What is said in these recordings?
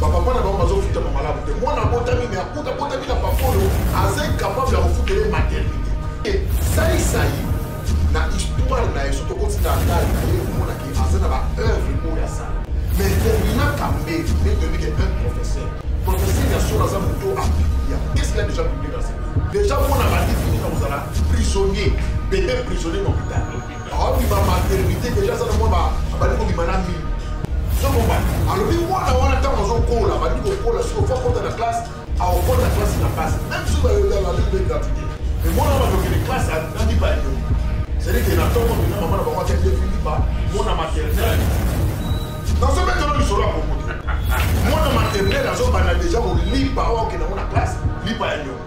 bapapa na bango bazofutama malamu te mwana abotami me akuta abotami na papa oyo aza incapable ya kofutele maternité e saisai na histoire na ye soki okotika ndai na ye omonaki aza na baœuvre oyo asala mais termina kambe nde toyebike un professeur professeur ya solo aza moto apilia qu'est-ce qu'il a déjà publié dans ce déjà mona bandi fini na kozala prisonnier bebe prisonnier na hôpital Abima maternité deja aza na mwa abandi kobima na mimi sokombana alobi mwana wana ntango azokola bandi kokola soki ofa kota na classe aokota classe na classe même soki bayolalabe gratuité mais mwana bakokende classe nandi bayo cedike na ntongo mina mama na bango akende filipa mwana maternel nazobetana lisolo ya kokote mwana maternel azobanda deja kolipa oyo akenda ngo na classe lipa ya nyongo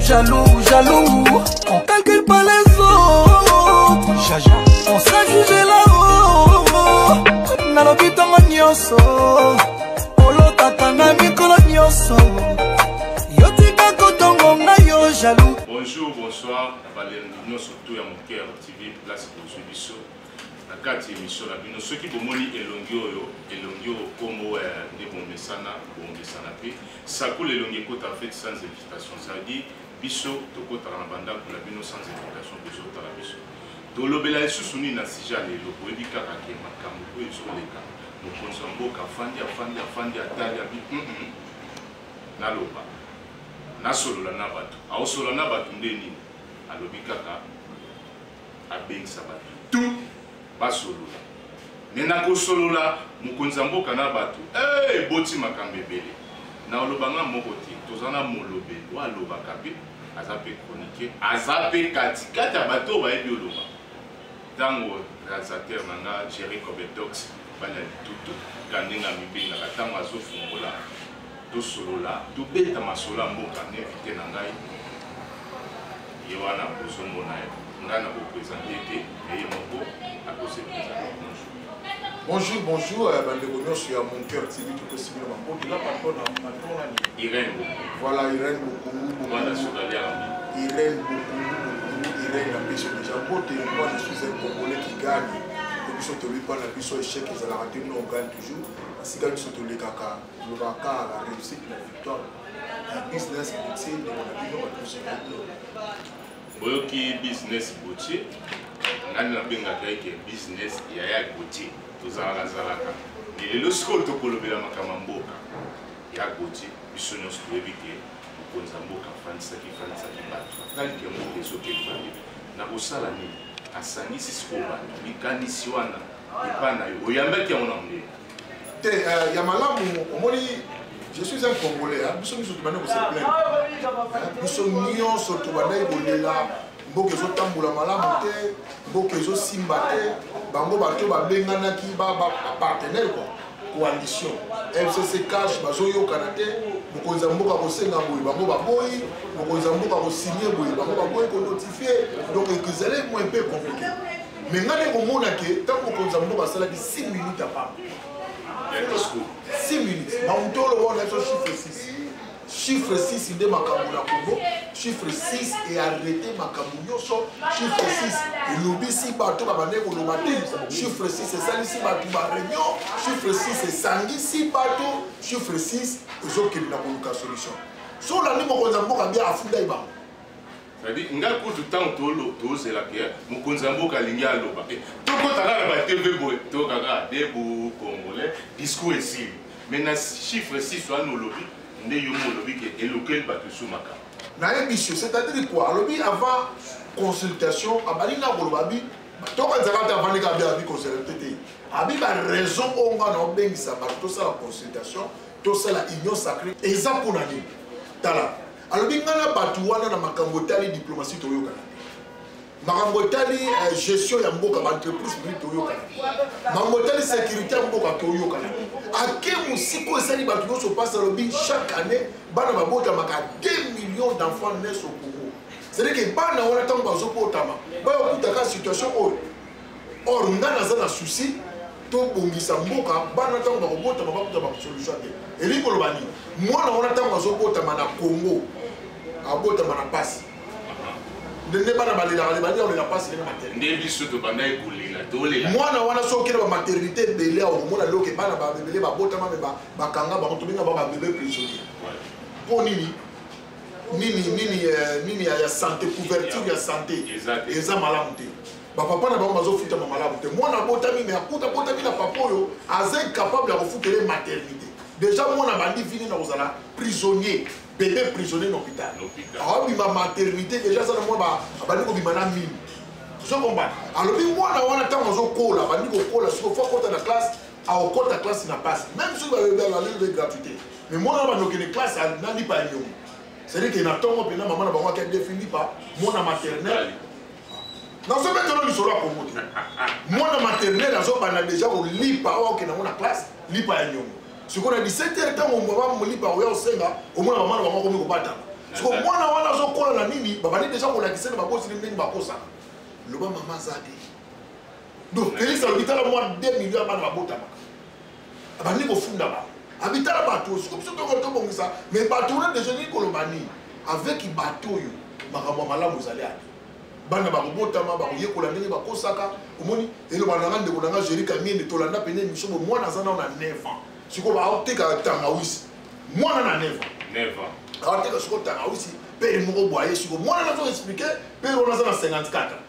Jaloux, jaloux, on calcule pas les autres. Jaja, on sera jugé là-haut. Nalobi tongo nyoso, olotaka na mikolo nyoso. Yo tika kotongo nga yo jaloux. Bonjour, bonsoir, na balembi nyoso tout ya moke ya TV place bozwi biso. Na kati emission na bino soki bomoni elongi oyo, elongi oyo kombo ya nde bomesana, bomesana pe. Sakola elongi ekota en fait sans invitation, ça veut dire biso tokotaka na bandako na bino sans invitation, bozotala biso tolobela lisusu nini na sija lelo, boyebi kaka ke makambo oyo ezoleka mokonzi ya mboka afandi afandi afandi atali abi mm -mm. naloba nasolola na bato aosolola na bato nde nini alobi kaka abengisa bato tu basolola me na kosolola mokonzi ya mboka na bato eh, eboti makambo ebele na oloba nga moko te toza na molobe oyo alobaka mpe aza mpe chroniquer aza mpe katikati ya bato oyo bayebi oloba ntango realisateur na nga jerry cobedox bana litutu kandenge amibengaka ntango azofungola tosolola tobeta masolo ya mboka na invité na ngai ye wana bozomona ye ngai na bopresente te eye moko akose presente bonjour bonjour bonjour euh, bandeko nyonso ya mon cœur tv topesi bino maboto na patron na patron na irene voilà irene bokungu bomana sodalia irene bokungu bokungu irene na biso deja mbote moi je suis un congolais qui gagne biso toyebi mpo na biso échec ezalaka te no gagne toujours esika biso tolekaka Loba kaka la réussite la victoire la business boutier de mon avis on peut se gagner. Boyoki business boutier nani nabengaka eke business ya ya boutier tozalaka zalaka mais lelo sikoyo tokolobela makambo ya mboka ya boutier biso nyonso toyebi ke mokonzi ya mboka afandisaki fandisaki bato atali ke mboka ezokeli baye na kosala nini asangisi sikoyo bato likanisi wana epai na yo oyambaki yango na mondele te euh, ya malamu omoni je suis un congolais hein. biso nyonso tobandaki koseplaine hein. biso nyonso tobandaki kolela mboka ezotambola malamu te mboka ezosimba te bango bato babenganaki bapartenaire kua coalition mcc cash bazoyokana te mokonzi ya mboka kosenga boye bango baboyi mokonzi ya mboka kosigne boye bango baboyi konotifie donc ezali moyen mpe compliqué mais ngai nde komona ke ntango mokonzi ya mboka asalaki 6 minutes ya pamba 6 minutes bamutolo wana biso chiffre 6 chiffre 6 nde makambo na kongo chiffre 6 earrete makambo nyonso chiffre 6 elobisi bato babandaki koloba te chiffre 6 esalisi bato bareunion chiffre 6 esangisi bato chiffre 6 ezokende na koluka solution so olandi mokonzi ya mboka bia afundaki bango Sadi nga kutu tango tolo tozela ke mokonzi ya mboka alingi aloba eh, tokota kaka ba TV boye toyoka kaka debu congolais discours esili mais na chiffre 6 wana olobi nde yo mo olobi ke elokeli bato esu makambo nayebisi yo c'est-à-dire quoi alobi avant consultation abandi nga koloba bi toka nzaka te avandi kaka bi abi consultation te abi ba raison oyo nga na obengisa bato tosala consultation tosala union sacrée eza mpo na nini tala alobi ngai na bato wana na makambo etali diplomatie toyokana te makambo etali eh, gestion ya mboka baentreprise publique toyokana te makambo etali sécurité ya mboka toyokana te ake mosika oyo esali bato nyonso mpasi alobi chaque année bana babotamaka 2 millions d'enfants nes au congo c'est-à-dire ke bana wana ntango bazobotama bayokutaka situation oyo or nga naza na souci tobongisa mboka bana ntango bakobotama bakuta basolution te elingi koloba nini mwana wana ntango azobotama na congo abotama na mpasi ndenge bana balelaka le balia kolela mpasi ndenge maternité nde biso tobandaki kolela tolela mwana wana soki okende bamaternité ebele awa komona loke bana babebele babotama me bakanga bango tobenga ba babebe prisonnier mpo nini nini nini eh, nini ya sante couverture ya sante eza malamu te bapapa na bango bazofutama malamu te mwana abotami me akuta abotami na papa oyo aza incapable ya kofutela maternité déjà mwana abandi vini na kozala prisonnier bebe prisonnier na hôpital aobima maternité déjà aza na mwa abandi kobima na mimi zokombana alobi mwana wana ntango azokola abandi kokola siko fo akota na classe aokota classe na pasi même soki balobelalobi gratuité mais mwana wana bandokende classe nalipa nyongo c'est-à-dire que na tongo mpenza mama na bango ake defilipa mwana maternel nazobetelo lisolo ya kongo te mwana maternel azobanda deja kolipa oyo akokenda yango na classe lipa ya nyongo sikoyo na 17 heure ntango mama molipa oya osenga omona mama na bango akomi kobatana siko mwana wana azokola na nini babandi deja kolakisa na babosili ndenge bakosaka loba mama aza te donc felix alobi tala mwa 2 million ya bana babotamaka abandi kofunda bango abitala bato oyo soko biso toko tobongisa me bato wana deja nini koloba nini avec bato oyo makambo ya malamu ezali ate bana bakobotama bakoyekola ndenge bakosaka omoni eloba nanga ndeko nanga géri kamiende tolanda pene émission bo mwana aza nao na 9 ans sikoyo baoteka tangawisi mwana na 9 ans aoteka sikoyo tangawisi pere moko bwaye sikoyo mwana nazo explike pere wana aza na 54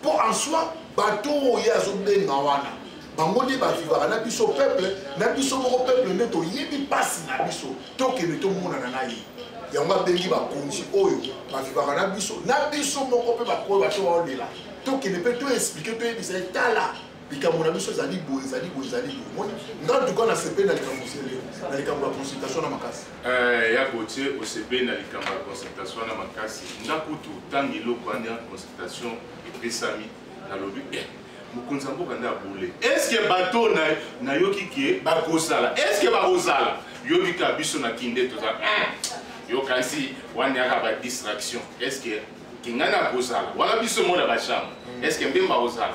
mpo en soi bato oyo ye azobenga wana bango nde bavivaka na biso peuple na biso moko peuple nde toyebi mpasi na biso tokende tomonana na ye yango abengi bakonzi oyo bavivaka na biso na biso moko mpe bakoyo bato baolela tokende mpe toexplike toyebisa ye tala likambo na biso ezali boye ezali boye ezali boye omoni nga ntuka nasepeli na likambo osele na likambo ya consultation na makasi eh, ya gotie osepeli na likambo ya consultation wana makasi nga kutu ntango eloko wana consultation epesami nalobi eh, mokonzi ya mboka nde abule eske bato nayoki ke bakosala eske bakozala yoki ka biso na kinde toza eh, yokanisi wana yaka ba distraction eske kingani akozala wana biso mona bachambre eske mbemba akozala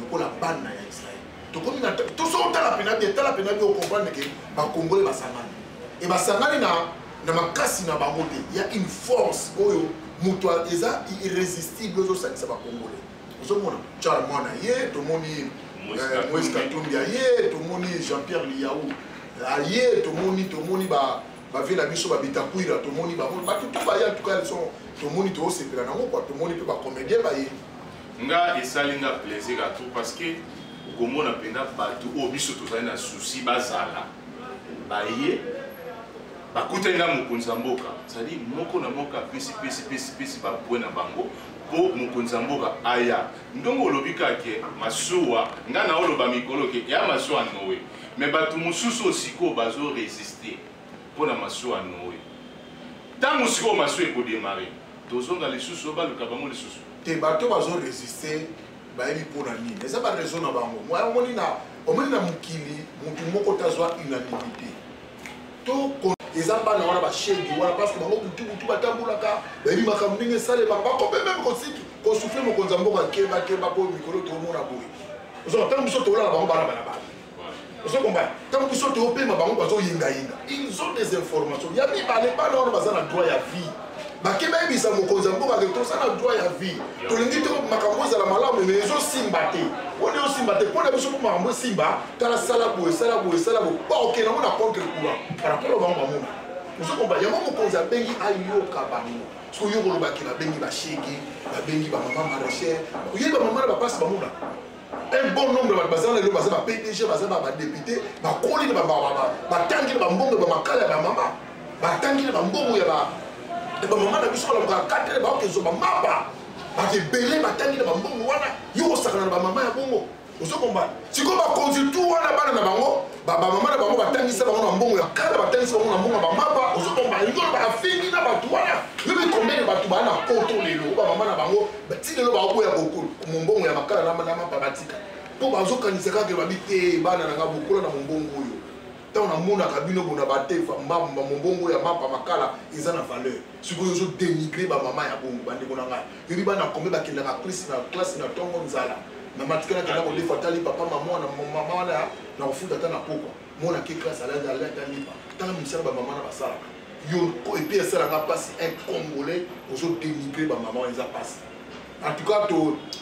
lokola bana ya israel tokomi na tosoki otala pena bien tala pena bien okomprendre ke bakongole basangani e basangani na, na makasi na bango te ya une force oyo moto eza irrésistible ozosangisa bakongole ozomona charmo na ye tomoni eh, moise katumbi aye tomoni jean pierre liyau aye tomoni tomoni ba bavie na biso babitakwira tomoni bango bato to baye antuka leson tomoni toosepela nango kua tomoni mpe bacomédien baye nga esali nga plaisir à tout parce que okomona mpenza bato oyo biso tozali na souci bazala baye bakutani na mokonzi ya mboka ezali moko na moko apesi pesi pesi pesi bapwe na bango mpo mokonzi ya mboka aya ndongo olobi kake masuwa ngai naoloba mikolo ke ya masuwa noe me bato mosusu oyo sikoyo bazoresiste mpo na masuwa ya Noe. Ntango sikoyo masuwa ekodemare, tozonga lisusu oyo baluka bango lisusu te. Bato bazo resiste bayebi mpo na nini, eza ba raison na bango. Omoni na omoni na mokili motu moko tazwa unanimité to eza bana wana bashedi wana parce que bango butu butu batambolaka bayebi makambo ndenge esalemaka bakobe meme kosiki kosufle mokonzi ya mboka keba keba mpo mikolo toomona boye ozonga ntango biso tolala bango bana bana bana ozo kombana ntango biso toopema bango bazoyengayenga ils ont des informations ya mibale bana wana baza na droit ya vie bake bayebisa mokonzi ya mboka ke toza na droit ya vie tolingi to makambo ezala malamu me ezosimba te mpona ezosimba te mpona biso mpo makambo esimba tala sala boye sala boye sala boye baoke nango na contre courant parapolo bango bamona ozo komba yango mokonzi abengi ayoka bango soki yo kolobaki babengi bashege babengi bamama maracher oyebi bamama na bapasi bamona un bon nombre bato baza lelo baza ba pdg baza ba badepute bakoli na batangi na bambongo ya bamakala ya bamama batangi na bambongo ya bamama na biso balamuka katre baoke zoba mapa bato ebele batangi na bambongo wana yo kosakana na bamama ya bongo ozokomba sikoyo bakonzi tu wana bana na bango babamama na bango batangisa bango na mbongo ya kala batangisa bango na mbongo ya bamapa ozokomba yo bafingi na bato wana yo bikombele bato baa na poto lelo bamama na bango ti lelo baoboya bokolo mombongo ya makala na mapa batika mpo bazokanisa kaka babi te bana na nga bokola na mombongo oyo ntango namonaka bino bona batefa mbamba mombongo ya mapa makala eza na valeur sikoyo ozodenigre bamama ya bongo bandeko na ngai Yuri bana kombe bakendaka klisi na klasi na ntongo nzala na matikala kenda kodefa ata lipa mpa mama wana mama wana na kofuta ata na pokwa mwana ke klasi alali alali ata lipa tala misala bamama na basalaka yo epi esalaka mpasi un congolais ozodenigre bamama wana eza mpasi en tout cas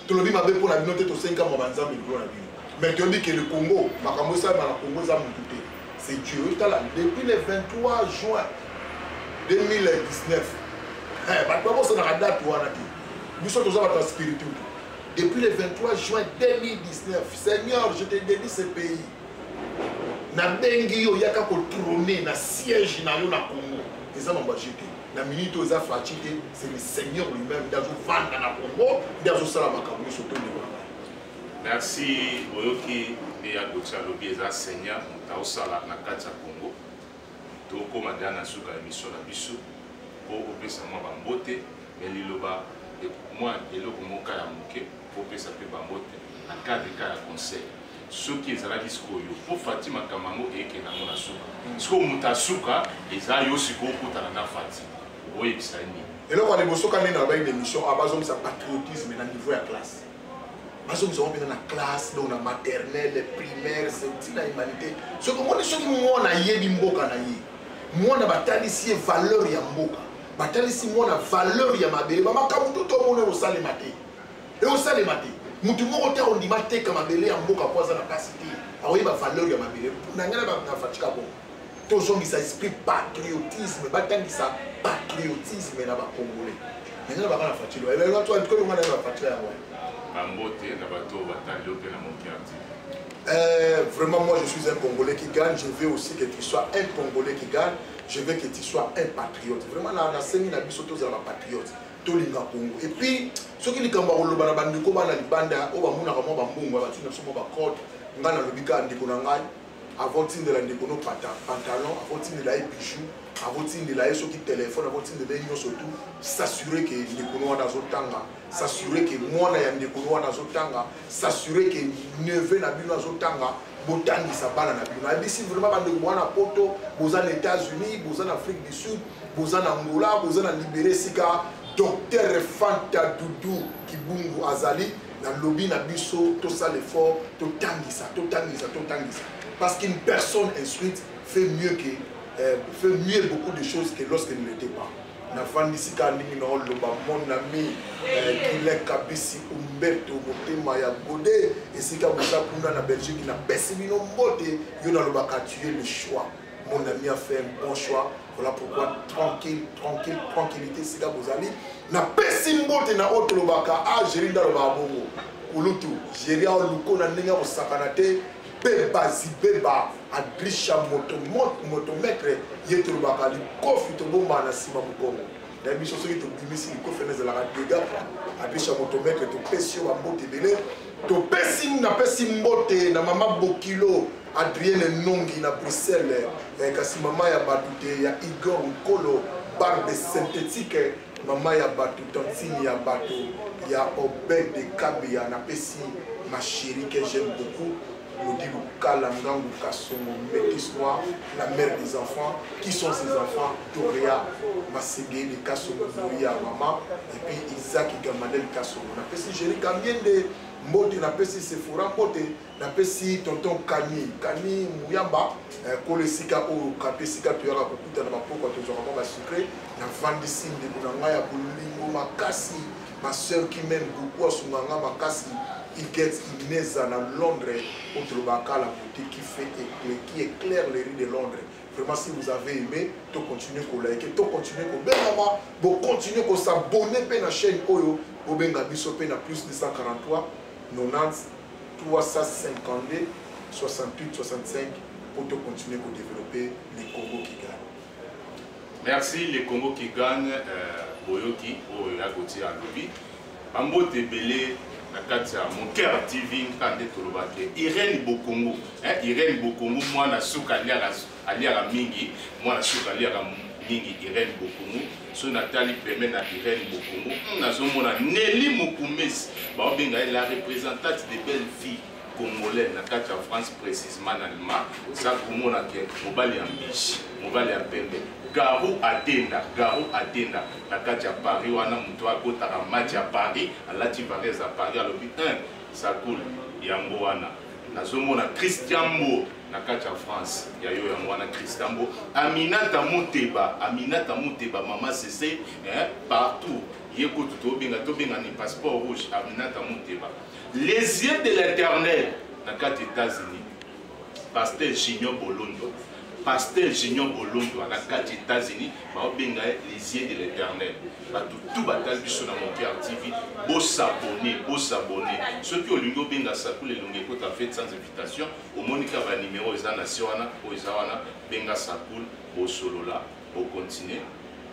tolobi mabe mpo na bino te tosengi kamwa banzambe likolo na bino mais toyebi ke le congo makambo esalema na congo eza motu te c'est Dieu otala depuis le 23 juin 2019 eh, bato babosanaka date wana te biso toza bato ya spiritu depuis le 23 juin 2019 seigneur je te dédie ce pays nabengi yo oyaka kotrone na siège na yo na congo eza mambo ya je te na minute oyo eza faci te c'est le seigneur lui-même nde azovanda na congo nde azosala makambo nyonso tondima Merci oyoki nde ya Gauthier alobi eza seigneur moto aosala na kati ya Congo tokoma deja na suka ya miso na biso mpo opesa mwa bambote me liloba mwa eloko moka ya moke opesa mpe bambote na cadre ka ya conseil soki ezalaki sikoyo mpo fati makambo yango eyekende yango na suka sikoyo moto ya suka eza yo sikoyo okutana na fati oyebisa ye nini eloko ya liboso ka nini alobaki na émission abazongisa patriotisme na niveau ya classe bazongisa ngo mpenza na classe donc na maternelle primaire ntina humanité soki omoni soki mwana ayebi mboka na ye mwana batalisi ye valeur ya mboka batalisi mwana valeur ya mabele bamakambo tu tomona ekosalema te ekosalema te motu moko te akondima ateka mabele ya mboka mpo aza na mpasi te akoyeba valeur ya mabele na ngai na fatika bongo tozongisa esprit patriotisme batangisa patriotisme na bacongolais maintenant baka na fatilo elonga na bafatila yango bambote na bato oyo batali yo mpe na mokiati Euh, vraiment, moi, je suis un Congolais qui gagne. Je veux aussi que tu sois un Congolais qui gagne. Je veux que tu sois un patriote. Vraiment, na semi na biso tous la patriote. Tout le Congo. Et puis, ceux qui les Cambaro, le Banabandiko, Banalibanda, Oba Mouna, Ramon, Bambou, Batina, Somo, Bakot, Ngana, le Bika, Ndiko, Nangai. avant tindela ndeko no pantalon avant tindela ye bijou avant tindela ye soki telefone avant tindela ye nyonso tu s'assure ke ndeko no wana azotanga s'assure ke mwana ya ndeko no wana azotanga s'assure ke neveu na bino azotanga botangisa bana na bino nayebisi vraiment bandeko boza na poto boza na états-unis boza na afrique du sud boza na angola boza na libere sika docteur fanta dudu kibungu azali na lobi na biso tosala effort totangisa totangisa totangisa parce qu'une personne instruite fait mieux que euh, fait mieux beaucoup de choses que lorsqu'elle ne l'était pas nafandisi ka ndenge na oloba mon ami euh, kile kabisi umberto motema ya gode esika boza kuna na belgique napesi bino mbote yo nalobaka tue le choix Mon ami a fait un bon choix. Voilà pourquoi tranquille, tranquille, tranquillité, c'est là vous allez. Na pesimbo te na autre lobaka, ah, géri dans le babongo. Ulutu, géri au louko na nenga au sakanate, beba zibeba, adrisha moto, moto, moto, maître, yetu lobaka, li kofi to bomba na sima mukongo. na biso soki tobimisi likofi wana ezalaka dega adrisha moto maître topesi yo bambote ebele topesi napesi mbote na mama bokilo Adrienne Nongi na Bruxelles eh, kasi mama ya bato te ya Igor Nkolo barbe synthétique eh, mama ya bato tantine ya bato ya Obed de Kabia napesi ma chérie que j'aime beaucoup Claudie Lukala Ngangu Kasongo Métis Noir la mère des enfants qui sont ses enfants Toria Masege de Kasongo Doria maman et puis Isaac Gamanel Kasongo napesi Jerry Kamiende mbote napesi Sephora mbote napesi tonton kani kani muyamba eh, kolo esika oyo kape esika toyaka kokutana bapokwa tozwaka mwa basecret navandisi ndeko na ngai ya bolingo makasi ma sœur qui m'aime beaucoup asunga nga makasi iget ineza na londres oyo tolobaka kala bote qui fait éclair qui éclaire les rues de londres vraiment si vous avez aimé to continuer kolike to continuer kobengama bocontinue kosabonne mpe na chaîne oyo bobenga biso mpe na plus 243 90 352 68 65 pour te continuer à développer le Congo qui gagne. Merci, le Congo qui gagne, euh, Boyoki, oyo ya Gauthier alobi. Bambote ebele na kati ya Moker TV nka nde tolobaki Irène Bokongo, hein, Irène Bokongo mwana suka aliaka aliaka mingi mwana suka aliaka mingi irene bokumu soki natali peme na irene bokumu hmm, nazomona neli mokumesi baobenga ye la représentante de belle fille congolais na kati ya france précisement na allemand oza komona ke mobali ya mbishi mobali ya pembe garu atenda garu atenda na kati ya paris wana moto akotaka match ya paris alati varese ya paris alobi 1 sakul yango wana nazomona christian mbo na kati ya france ya yo yango wana christambo aminata moteba aminata moteba mama sese eh, partout ye kutu tobenga tobenga ni passeport rouge aminata moteba les yeux de l'éternel na kati états-unis pasteur junior bolondo pasteur junior bolondo na kati états-unis baobenga ye les yeux de l'éternel bato tu batali biso na mokiar tv bosabone bosabone soki olingi obenga sakula elongi ekota fete sans invitation omoni ka ba numero eza na se wana oyo eza wana benga sakul bosolola bokontinue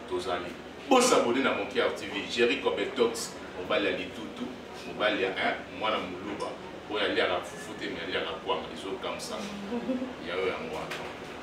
tozali bosabone na monkiar tv jerry cobetox mobali ya litutu mobali ya eh, mwana moluba oyo aliaka fufu te me aliaka kwanga ezokamsa yayo yango wana